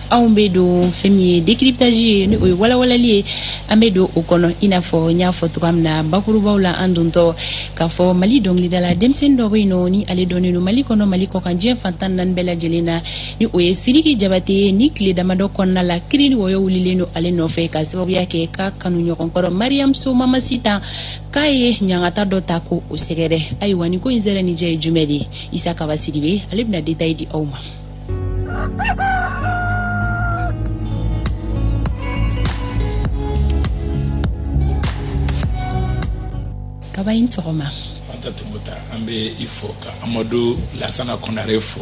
anw bɛ don fɛn min ye décryptage ye ni o ye walawalali ye an bɛ don o kɔnɔ i n'a fɔ n y'a fɔ cogoya min na bakurubaw la an dontɔ k'a fɔ mali dɔnkilidala denmisɛnnin dɔ bɛ yen nɔ ni ale dɔnnen don mali kɔnɔ mali kɔkan diɲɛ fantan naani bɛɛ lajɛlen na ni o ye siriki jabate ye ni tile damadɔ kɔnɔna la kiri ni wɔyɔ wulilen don ale nɔfɛ ka sababuya kɛ k'a kanuɲɔgɔn kɔrɔ mariyamu so mamasita k'a ye ɲangata dɔ ta ko o sɛgɛrɛ ayiwa nin ko in nsɛrɛ ni jɛ ye jumɛn de ye isa kaba sidibe ale bɛna détail di aw ma kaba in tɔgɔma an bɛ i fo ka amadu lasana kɔnare fo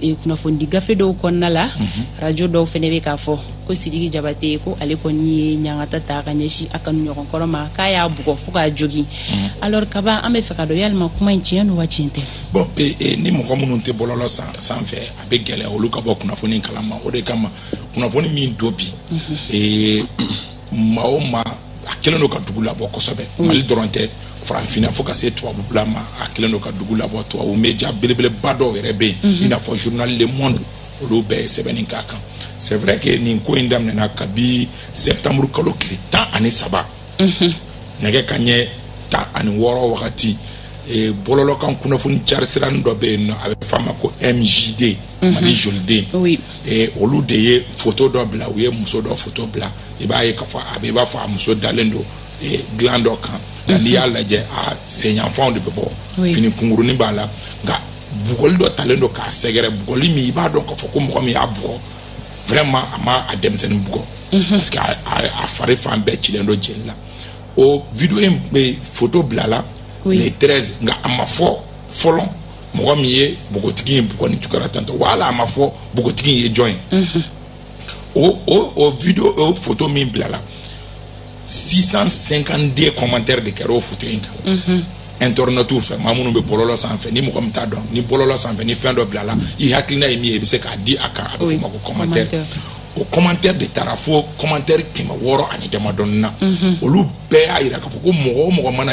e, kunnafonidi gafe dɔw kɔnɔna la mhm. rajo dɔw fɛnɛ bɛ k'a fɔ ko sidiki jabate ko ale kɔni ye ɲangata ta ka ɲɛsin a kanuɲɔgɔn kɔrɔ ma k'a y'a bugɔ fo k'a jogin mhm. alors kaba an bɛ fɛ k'a dɔn yalima kuma in tiɲɛ don wa tiɲɛ tɛ bon e, e, ni mɔgɔ minnu tɛ bɔlɔlɔ sanfɛ a bɛ gɛlɛya olu ka bɔ kunnafoni kalama o de kama kunnafoni min don bi mhm. maa o maa a kelen don ka dugu labɔ kosɛbɛ mm. mali dɔrɔn tɛ farafinna fo ka se tubabula ma a kelen don ka dugu labɔ tubabu media belebeleba dɔw yɛrɛ bɛ yen mm-hmm. i n'a fɔ journal le monde olu bɛɛ ye sɛbɛnni k'a kan c'est vrai que nin ko in daminɛna kabi septembre kalo tile tan ani saba mm-hmm. nɛgɛ kanɲɛ tan ani wɔɔrɔ wagati e, bɔlɔlɔ kan kunnafoni carisiranin dɔ bɛ yen nɔ a bɛ f'a ma ko mjd mm-hmm. mali jolie den ee olu de ye foto dɔ bila u ye muso dɔ foto bila i b'a ye k'a fɔ a bɛ i b'a fɔ a muso dalen don ee dilan dɔ kan nka n'i y'a lajɛ a senyanfanw de bɛ bɔ Oui. fini kunkurunin b'a la nka bugɔli dɔ talen don k'a sɛgɛrɛ bugɔli min i b'a dɔn k'a fɔ ko mɔgɔ min y'a bugɔ vraiment a ma a denmisɛnnin bugɔ parce que a- a a fari fan bɛɛ cilen don jeli la o video e foto bilala Oui. le 13 nka a ma fɔ fɔlɔ mɔgɔ min ye bogotigi in bugɔ nin cogo la tantɔ wala a ma fɔ bogotigi ye jɔn ye o o o video o foto min bilala 652 commentaire de kɛra o foto in kan internautew fɛ maa minnu bɛ bɔlɔlɔ sanfɛ ni mɔgɔ min t'a dɔn ni bɔlɔlɔ sanfɛ ni fɛn dɔ bilala i hakilina ye min ye i bɛ se k'a di a kan a bɛ Oui, f'o ma ko commentaire commentaire. o commentaire de taara fo commentaire kɛmɛ wɔɔrɔ ani damadɔni na olu bɛɛ y'a yira k'a fɔ ko mɔgɔ o mɔgɔ mana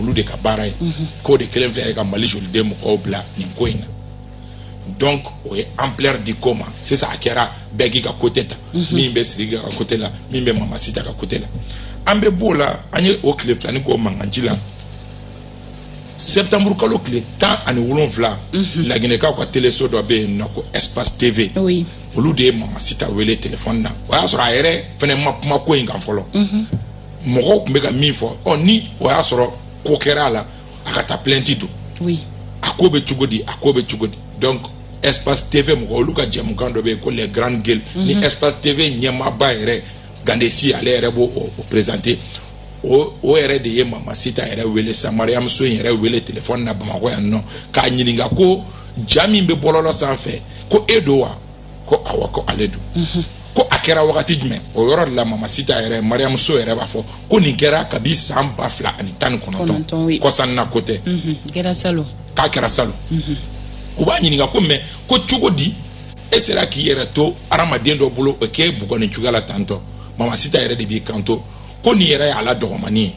olu de ka baara ye mhm. k'o de kelen filɛ ye ka mali jolie den mɔgɔw bila nin ko in na donc o ye ampleur di ko ma sisan a kɛra bɛɛ k'i ka côté ta mhm. min bɛ sirigi ka côté la min bɛ mamasita ka côté la an bɛ b'o la an ye o tile filani k'o mankanci la septembre kalo tile tan ani wolonfila mhm. laginɛkaw ka teleso dɔ bɛ yen nɔ ko espace tv olu de ye mamasita wele telefɔni na o y'a sɔrɔ a yɛrɛ fɛnɛ ma kuma ko in kan fɔlɔ mɔgɔw tun bɛ ka min fɔ ɔ ni o y'a sɔrɔ ko kɛra a la a ka taa plainte don oui. a ko bɛ cogo di a ko bɛ cogo di donc espace tv mɔgɔ olu ka jɛmukan dɔ bɛ yen ko les grandes gueules mm -hmm. ni mhm. espace tv ɲɛmaaba yɛrɛ gandesi ale yɛrɛ b'o o, o présenter o o yɛrɛ de ye mama sita yɛrɛ wele sa mariyamu so yɛrɛ wele téléphone na bamakɔ yan nɔ k'a ɲininka ko ja min bɛ bɔlɔlɔ sanfɛ ko e don wa ko awɔ ko ale don mhm. ko a kɛra wagati jumɛn o yɔrɔ de la mama sita yɛrɛ mariyamu so yɛrɛ b'a fɔ ko nin kɛra kabi san ba fila ani tan ni kɔnɔntɔn kɔsanna ko tɛ mhm. k'a kɛra salon mhm. u b'a ɲininka ko mais ko cogo di e sera k'i yɛrɛ to adamaden dɔ bolo o k'e bugɔ nin cogoya la tantɔ mama sita yɛrɛ de b'i kanto ko nin yɛrɛ y'a la dɔgɔmani ye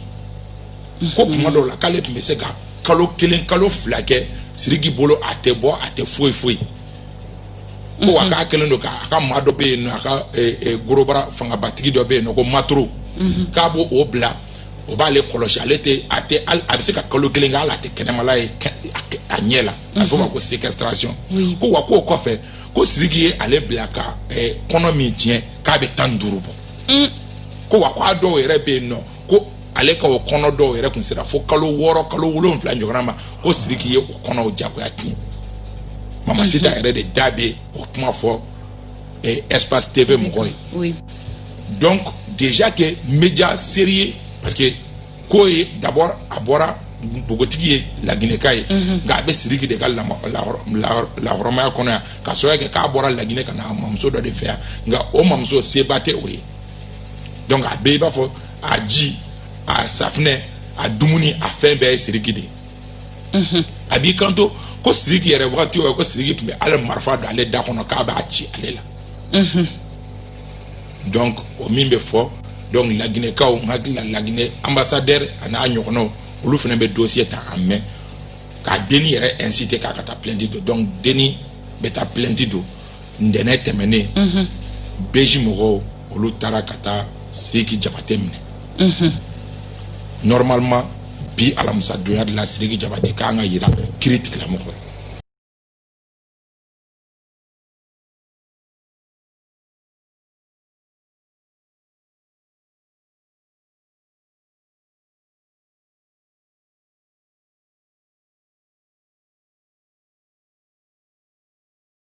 ko tuma dɔw la k'ale tun bɛ se ka kalo kelen kalo fila kɛ siriki bolo a tɛ bɔ a tɛ foyi foyi ko wa k'a kɛlen don k'a ka maa dɔ bɛ yen nɔ a ka gros bras fangabatigi dɔ bɛ yen nɔ ko maturu k'a b'o o bila o b'ale kɔlɔsi ale tɛ a tɛ a bɛ se ka kalo kelen kɛ hali a tɛ kɛnɛmala ye a ɲɛ la a bɛ fɔ o ma ko séquestration ko wa k'o kɔfɛ ko sidiki ye ale bila ka kɔnɔ min tiɲɛ k'a bɛ tan ni duuru bɔ ko wa k'a dɔw yɛrɛ bɛ yen nɔ ko ale ka o kɔnɔ dɔw yɛrɛ tun sera fo kalo wɔɔrɔ kalo wolonwula ɲɔgɔnna ma ko siriki ye o kɔnɔw jagoya tiɲɛ mama sita yɛrɛ de da bɛ o kuma fɔ eh, espace tv mɔgɔ ye oui. donc déjà que média sérieux parce que k'o ye d'abord a bɔra npogotigi ye laginɛka ye mhm. nka a bɛ siriki de ka lahɔrɔmaya kɔnɔ yan ka sababu kɛ k'a bɔra laginɛ ka na mamuso dɔ de fɛ yan nka o mamuso seba tɛ o ye donc a bɛɛ i b'a fɔ a ji a safinɛ a dumuni a fɛn bɛɛ ye siriki de ye mhm. a b'i kanto ko siriki yɛrɛ wagati o ko siriki tun bɛ a la marifa don ale da kɔnɔ k'a b'a ci ale la mhm. donc o min bɛ fɔ donc laginɛkaw n hakili la laginɛ ambassadeur a n'a ɲɔgɔnnaw olu fana bɛ dossier ta en main k'a denni yɛrɛ inciter k'a ka taa plainte don donc denni bɛ taa plainte don ntɛnɛn tɛmɛnen mhm. bij mɔgɔw olu taara ka taa siriki jabate minɛ mhm. normalement bi alamisa donya de la siriki jabate kan ka yira kiritigɛlamɔgɔ la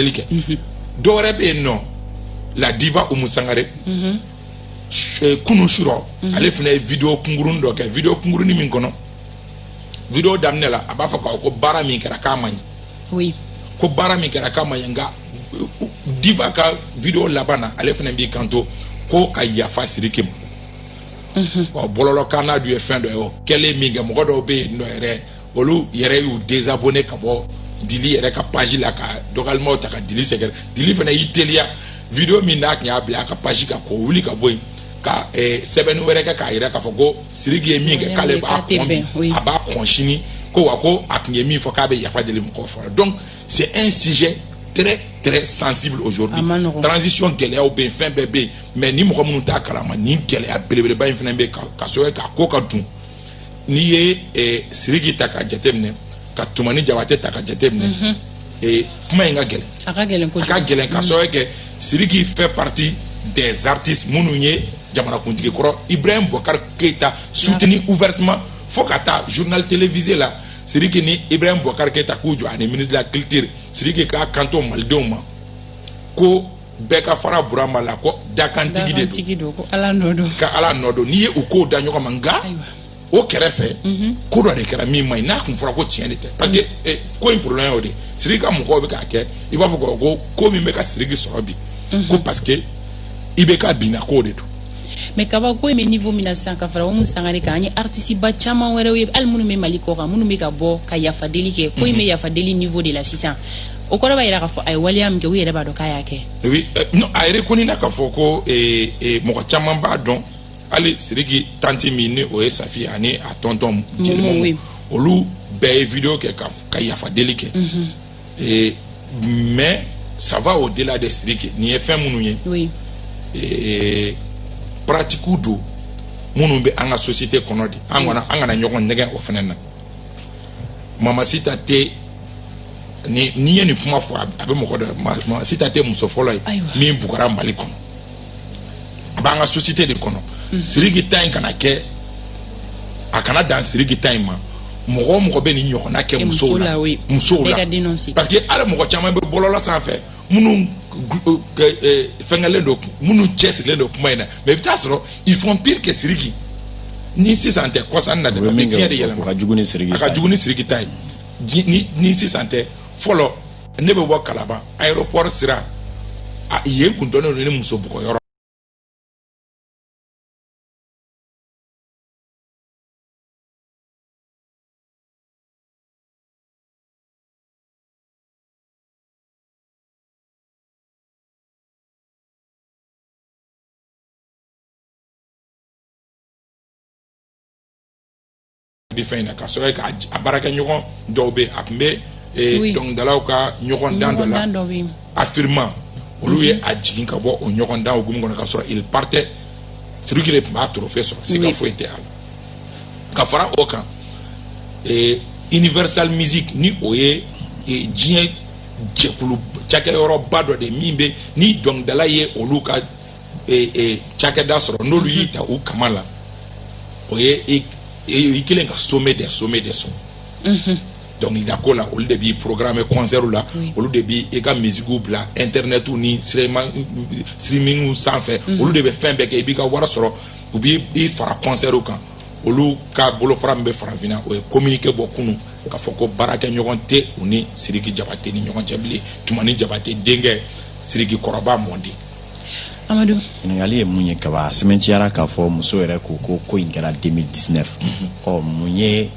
délicat mhm. dɔwɛrɛ bɛ yen nɔ la diva umu sangare mhm. kunu surɔ mhm. ale fana ye video kunkuruni dɔ kɛ video kunkuruni min kɔnɔ video daminɛ la a b'a fɔ k'a ko baara min kɛra k'a man ɲi oui. ko baara min kɛra k'a man ɲi nka diva ka video laban na ale fana b'i kanto ko ka yafa siriki ma mhm. ɔ bɔlɔlɔ kan n'a dun ye fɛn dɔ ye o kɛlen min kɛ mɔgɔ dɔw bɛ yen nɔ yɛrɛ olu yɛrɛ y'u désabonné ka bɔ dili yɛrɛ ka page la ka dɔgɔlimaw ta ka dili sɛgɛrɛ dili fana y'i teliya video min n'a tun y'a bila a ka page kan k'o wuli ka bɔ yen ka eh, sɛbɛnni wɛrɛ kɛ k'a yira k'a fɔ ko siriki ye min kɛ k'ale b'a kɔn bi a b'a kɔn sini ko wa ko a tun ye min fɔ k'a bɛ yafa deli mɔgɔw fɛ o la donc c'est un sujet très très sensible aujourd'hui transition gɛlɛyaw bɛ yen fɛn bɛɛ bɛ yen mais ni mɔgɔ minnu t'a kalama nin gɛlɛya belebeleba in fana bɛ yen ka sabu kɛ k'a ko ka dun n'i ye eh, siriki ta k'a jateminɛ ka tumani jabate ta k'a jateminɛ mhm. eh, kuma in ka gɛlɛn a ka gɛlɛn kojugu a ka gɛlɛn ka sabu kɛ siriki fait partie des artistes minnu ye jamanakuntigi kɔrɔ ibrahim bɔkari keyita soutenu ouvertement fo ka taa journal télévisé la siriki ni ibrahim bɔkari keyita k'u jɔ ani ministre de la culture siriki k'a kanto malidenw ma ko bɛɛ ka fara burama la ko dakantigi de don ko ala nɔ don n'i ye u kow da ɲɔgɔn ma nka o kɛrɛfɛ mhm. ko dɔ de kɛra min man ɲi n'a tun fɔra ko tiɲɛ de tɛ parce que eh, ko in problème y'o de siriki ka mɔgɔw bɛ k'a kɛ i b'a fɔ ko ko min bɛ ka siriki sɔrɔ bi mhm. ko parce que ibk binna k'o de don mais kabako in bɛ niveau min na sisan ka fara umu sangare kan an ye artisteba caman wɛrɛw ye hali minnu bɛ mali kɔkan minnu bɛ ka bɔ ka yafadeli kɛ ko in bɛ mhm. yafadeli niveau de la sisan o kɔrɔ b'a yira k'a fɔ a ye waleya min kɛ u yɛrɛ b'a dɔn k'a y'a kɛ oui euh, non a reconnu na k'a fɔ ko eh, eh, mɔgɔ caman b'a dɔn hali siriki tanti min ni o ye safi ani a tɔntɔn jelimamu oui. olu bɛɛ ye video kɛ ka, ka yafa deli kɛ mm -hmm. eh, mais ça va au-delà de siriki nin ye fɛn minnu ye oui. eh, pratiquew don minnu bɛ an ka société kɔnɔ de an kana an kana ɲɔgɔn nɛgɛn o fana na mamasita tɛ ni n'i ye nin kuma fɔ a bɛ mɔgɔ dɔ mamasita tɛ muso fɔlɔ ye min bugɔra mali kɔnɔ a b'an ka société de kɔnɔ mm. siriki ta in kana kɛ a kana dan siriki ta in ma mɔgɔ o mɔgɔ bɛ nin ɲɔgɔnna kɛ musow la musow la parce que hali mɔgɔ caman bɛ bɔlɔlɔ sanfɛ minnu fɛnkɛlen don minnu cɛsirilen don kuma in na mais i bɛ taa sɔrɔ ils font pire que Siriki ni sisan tɛ kɔsan na dɛ parce que diɲɛ de yɛlɛma a ka jugu ni Siriki a ka jugu ni Siriki ta ye ni ni sisan tɛ fɔlɔ ne bɛ bɔ Kalaban aéroport sira a yen kun dɔnnen don ni muso bugɔ yɔrɔ bi fɛn in na ka sɔrɔ ka a baarakɛɲɔgɔn dɔw bɛ a tun bɛ dɔnkilidalaw ka ɲɔgɔndan dɔ la AFRIMA olu ye a jigin ka bɔ o ɲɔgɔndan hukumu kɔnɔ ka sɔrɔ il partait Siriki de tun b'a trophée sɔrɔ siga foyi tɛ a la ka fara o kan ee universal music ni o ye ee diɲɛ jɛkulu cakɛyɔrɔba dɔ de min bɛ ni dɔnkilidala ye olu ka ee ee cakɛda sɔrɔ n'olu y'i ta u kama la o ye i i kelen ka sommet des sommets de sɔrɔ dɔnkilidako la olu de b'i programme concert la olu de b'i i ka musiquew bila internet ni streaming sanfɛ olu de bɛ fɛn bɛɛ kɛ i b'i ka wari sɔrɔ u b'i i fara concertw kan olu ka bolofara min bɛ farafinna o ye communiqué bɔ kunu k'a fɔ ko baarakɛɲɔgɔn tɛ u ni siriki jabate ni ɲɔgɔn cɛ bilen tumani jabate denkɛ siriki kɔrɔba mɔden amadu ɲininkali ye mun ye kab'a sɛmɛnciyara k'a fɔ muso yɛrɛ ko ko ko in kɛra 2019 ɔ mun ye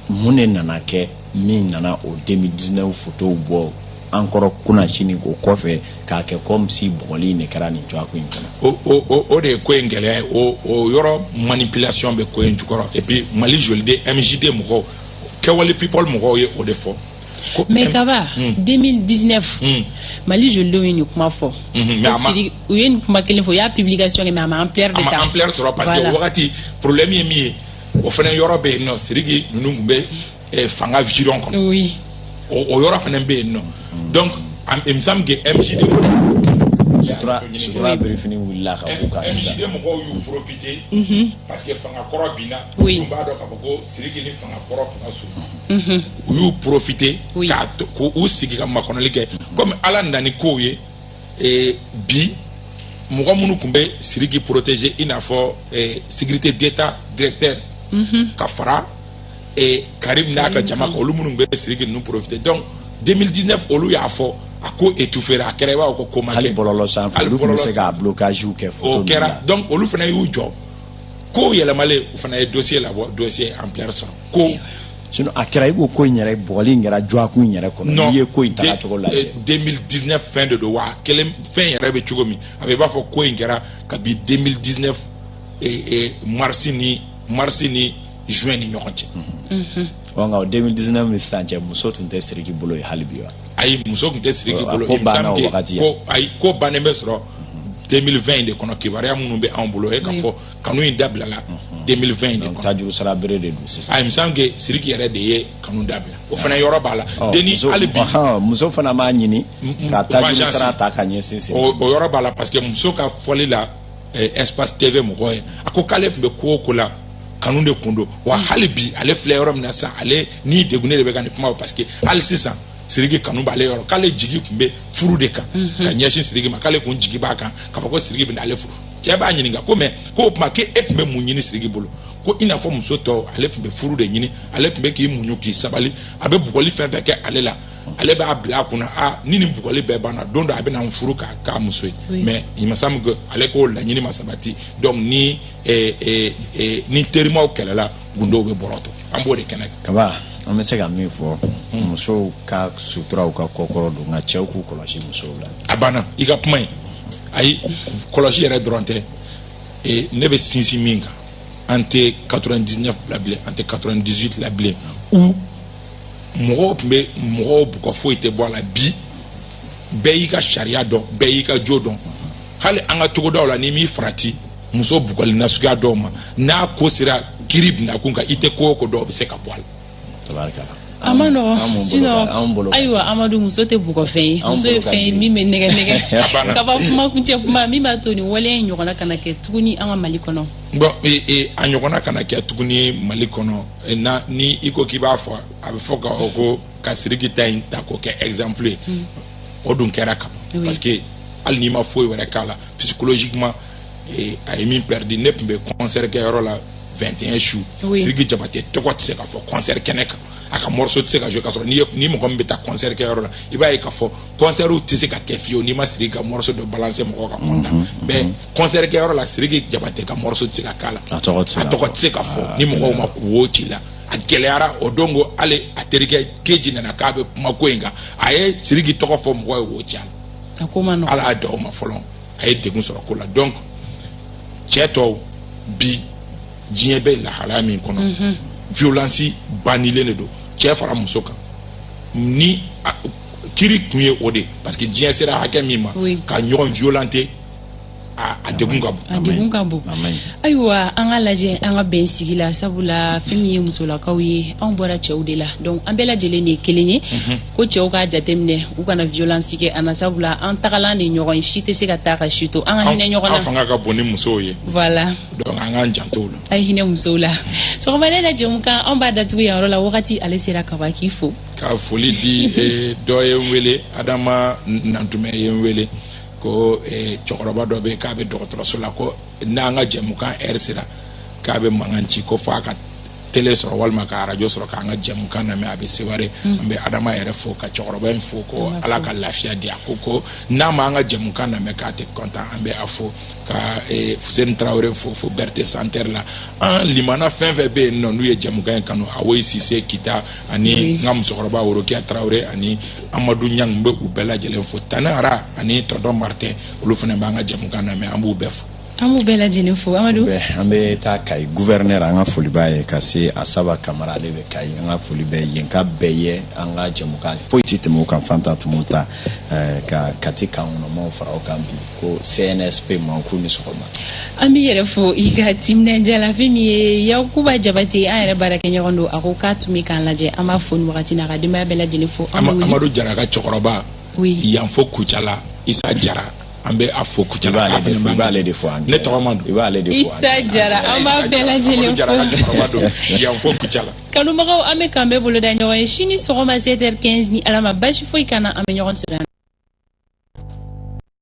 mun de nana kɛ min nana o 2019 fotow bɔ encore kunasini o kɔfɛ k'a kɛ comme si bugɔli in de kɛra nin dɔgɔkun in kɔnɔ o de ye ko in gɛlɛya ye o yɔrɔ manipulation bɛ ko in jukɔrɔ et puis mali joliden mjd mɔgɔw kɛwale people mɔgɔw ye o de fɔ mais kaba 2019 hmm. hmm. mali jolidenw ye nin kuma fɔ hmm, u ye nin kuma kelen fɔ u y'a publication kɛ mais a ma ampleur de ta ampleur sɔrɔ parce que o wagati problème ye min ye o fana yɔrɔ bɛ yen nɔ siriki ninnu tun bɛ eh, fanga giron kɔnɔ oui. o, o yɔrɔ fana bɛ yen nɔ donc am- il me semble que MJD sutura sutura birifini wulila ka b'u kan sisan MJD mɔgɔw y'u profiter parce que fanga kɔrɔ binna Oui. u b'a dɔn k'a fɔ ko siriki ni fanga kɔrɔ tun ka surun u y'u profiter Oui. k'a to- k'u sigi ka makɔnɔli kɛ comme ala nana ni kow ye ee bi mɔgɔ minnu tun bɛ siriki protéger i n'a fɔ eh, sécurité d'état directeur mhm. ka fara eh, karim n'a ka jama kan olu minnu tun bɛ siriki ninnu profiter donc 2019 olu y'a fɔ a ko étouffera a kɛra i b'a fɔ ko ko ma kɛ hali bɔlɔlɔ sanfɛ olu tun bɛ se ka blocage kɛ o kɛra donc olu fana y'u jɔ kow yɛlɛmalen u fana ye dossier labɔ dossier ampleur sɔrɔ ko sinon a kɛra i ko ko in yɛrɛ bugɔli in kɛra dɔgɔkun in yɛrɛ kɔnɔ n'i ye ko in taga cogo lajɛ 2019 fɛn de don wa a kelen fɛn yɛrɛ bɛ cogo min a bɛ i b'a fɔ ko in kɛra kabi 2019 mars ni mars ni juin ni ɲɔgɔn cɛ mhm. ɔ nka o 2019 ni sisan cɛ muso tun tɛ siriki bolo ye hali bi wa ayi muso tun tɛ siriki bolo ko banna o wagati ko ayi ko bannen bɛ sɔrɔ 2020 de kɔnɔ kibaruya minnu bɛ anw bolo e k'a fɔ kanu in dabilala 2020 in de kɔnɔ tajuru sara bere de don sisan il me semble que siriki yɛrɛ de ye kanu dabila o fana yɔrɔ b'a la Ɔ, deni muso- hali bi ɔhɔn, muso fana b'a ɲini m- ka tajuru vengeance. sara ta ka ɲɛsin siriki o yɔrɔ b'a la parce que muso ka fɔli la eh, espace tv mɔgɔ ye a ko k'ale tun bɛ ko o ko la kanu de kun don wa hali bi ale filɛ yɔrɔ min na sisan ale ni degunnen de bɛ ka nin kuma fɔ parce que hali sisan siriki kanu b'ale yɔrɔ k'ale jigi tun bɛ furu de kan ka ɲɛsin siriki ma k'ale kun jigi b'a kan k'a fɔ ko siriki bɛ n'ale furu cɛ b'a ɲininka ko mais ko o tuma k'e tun bɛ mun ɲini siriki bolo ko i n'a fɔ muso tɔw ale tun bɛ furu de ɲini ale tun bɛ k'i muɲu k'i sabali a bɛ bugɔli fɛn fɛn kɛ ale la ale b'a bila a kunna a ni nin bugɔli bɛɛ banna don dɔ a bɛna n furu k'a k'a muso ye mais il me semble que ale k'o laɲini ma sabati donc ni eh, eh, eh, ni terimaw kɛlɛla gundow bɛ bɔrɔtɔ an b'o de kɛnɛ kan kaba an bɛ se ka min fɔ musow ka sutura u ka kɔkɔrɔ don nka cɛw k'u kɔlɔsi musow la a banna i ka kuma ye ayi kɔlɔsi yɛrɛ dɔrɔn tɛ e, ne bɛ sinsin min kan an tɛ 99 la bilen an tɛ 98 la bilen où mɔgɔw tun bɛ mɔgɔw bugɔ foyi tɛ bɔ a la bi bɛɛ y'i ka sariya dɔn bɛɛ y'i ka jo dɔn hali an ka togodaw la n'i m'i farati muso bugɔli nasuguya dɔw ma n'a ko sera kiri bina kun kan i tɛ ko o ko dɔw bɛ se ka bɔ a la a man nɔgɔ sinon ayiwa amadu muso tɛ bugɔfɛn ye muso ye fɛn ye min bɛ nɛgɛn nɛgɛn kaba kuma kuncɛ kuma min b'a to nin waleya in ɲɔgɔnna kana kɛ tuguni an ka mali kɔnɔ bon e, e, a ɲɔgɔnna kana kɛ tuguni mali kɔnɔ e, na ni i ko k'i b'a fɔ a bɛ fɔ ka o ko ka siriki ta in ta k'o kɛ exemple ye hmm. o dun kɛra ka ban parce que hali n'i ma foyi wɛrɛ k'a la psychologiquement ee a ye min perdu ne tun bɛ concert kɛyɔrɔ la 21 su Oui. siriki jabate tɔgɔ tɛ se ka fɔ concert kɛnɛ kan a ka morceau tɛ se ka jouer k'a sɔrɔ n'i ye- ni mɔgɔ min bɛ taa concert kɛyɔrɔ la i b'a ye k'a fɔ concertw tɛ se ka kɛ fiyewu n'i ma siriki ka morceau dɔ balancer mɔgɔw ka content mais concert kɛyɔrɔ la siriki jabate ka morceau tɛ se ka k'a la A tɔgɔ tɛ se a ka tɔgɔ fɔ. tɛ se ka fɔ ni mɔgɔw ma wo ci la a gɛlɛyara o don ko hali a terikɛ keji nana k'a bɛ kuma ko in kan a ye siriki tɔgɔ fɔ mɔgɔw ye wo ci a la a ko man nɔgɔ ala y'a da o ma fɔlɔ a ye degun sɔrɔ ko la donc cɛ tɔw bi diɲɛ bɛ lahalaya min kɔnɔ mhm. violence bannilen de don cɛ fara muso kan ne hakili tun ye o de parce que diɲɛ sera hakɛ min ma ka ɲɔgɔn violenter a degun ka bon a degun ka bon ayiwa an ka lajɛ an ka bɛn sigi la sabula fɛn min ye musolakaw ye anw bɔra cɛw de la donc an bɛɛ lajɛlen de ye kelen ye mhm. ko cɛw k'a jateminɛ u kana violence kɛ an na sabula an tagalan de ɲɔgɔn ye si tɛ se ka taa ka si to an ka hinɛ ɲɔgɔn na an fanga ka bon ni musow ye voilà donc an k'an janto la a ye hinɛ musow la sɔgɔmada la jɛmukan an b'a datugu yan yɔrɔ la wagati ale sera ka ban k'i fo ka foli di eh, dɔ ye n wele adama nantumɛ ye n wele ko eh, cɛkɔrɔba dɔ bɛ k'a bɛ dɔgɔtɔrɔso la ko n'an ka jɛmukan ɛri sera k'a bɛ mankan ci ko fo a ka tele sɔrɔ walima ka arajo sɔrɔ k'an ka jɛmukan lamɛn a bɛ seware mm. an bɛ adama yɛrɛ fo ka cɛkɔrɔba in fo ko ala ka lafiya di a ko ko n'a ma an ka jɛmukan lamɛn k'a tɛ kɔntan an bɛ a fo ka eh, fuseni tarawele fo fo bɛrɛte santɛri la an limana fɛn fɛn bɛ yen nɔ n'u ye jɛmukan in kanu awoyi sise kita ani n ka musokɔrɔba worokiya tarawele ani amadu ɲang n bɛ u bɛɛ lajɛlen fo tanara ani tɔntɔn martin olu fana b'an ka jɛmukan lamɛn an b'u bɛɛ fo an b'u bɛɛ lajɛlen fo amadu an bɛ taa kayi guvɛrɛnɛr an ka foli b'a ye ka se asaba kamara ale bɛ kayi an ka foli bɛ yen ka bɛɛ ye an ka jɛmukan foyi tɛ tɛmɛ kan fanta tɛmɛ ta eh, ka kati kan kɔnɔmaw fara o kan bi ko cnsp ma k'u ni sɔgɔma an b'i yɛrɛ fo i ka timinandiya la fɛn min ye yakuba jabate an yɛrɛ baarakɛɲɔgɔn don a ko k'a tun bɛ k'an lajɛ an b'a fo nin wagati n'a ka denbaya bɛɛ lajɛlen fo amadu jara ka cɛkɔrɔba yan fo kucala isa jara an bɛ a fo kucala i b'ale de fɔ i b'ale de fɔ ne tɔgɔ man don i b'ale de fɔ isa jara an b'a bɛɛ lajɛlen fo yan fo kucala kanubagaw an bɛ k'an bɛn boloda ɲɔgɔn ye sini sɔgɔma 7h15 ni ala ma basi foyi k'an na an bɛ ɲɔgɔn sɔrɔ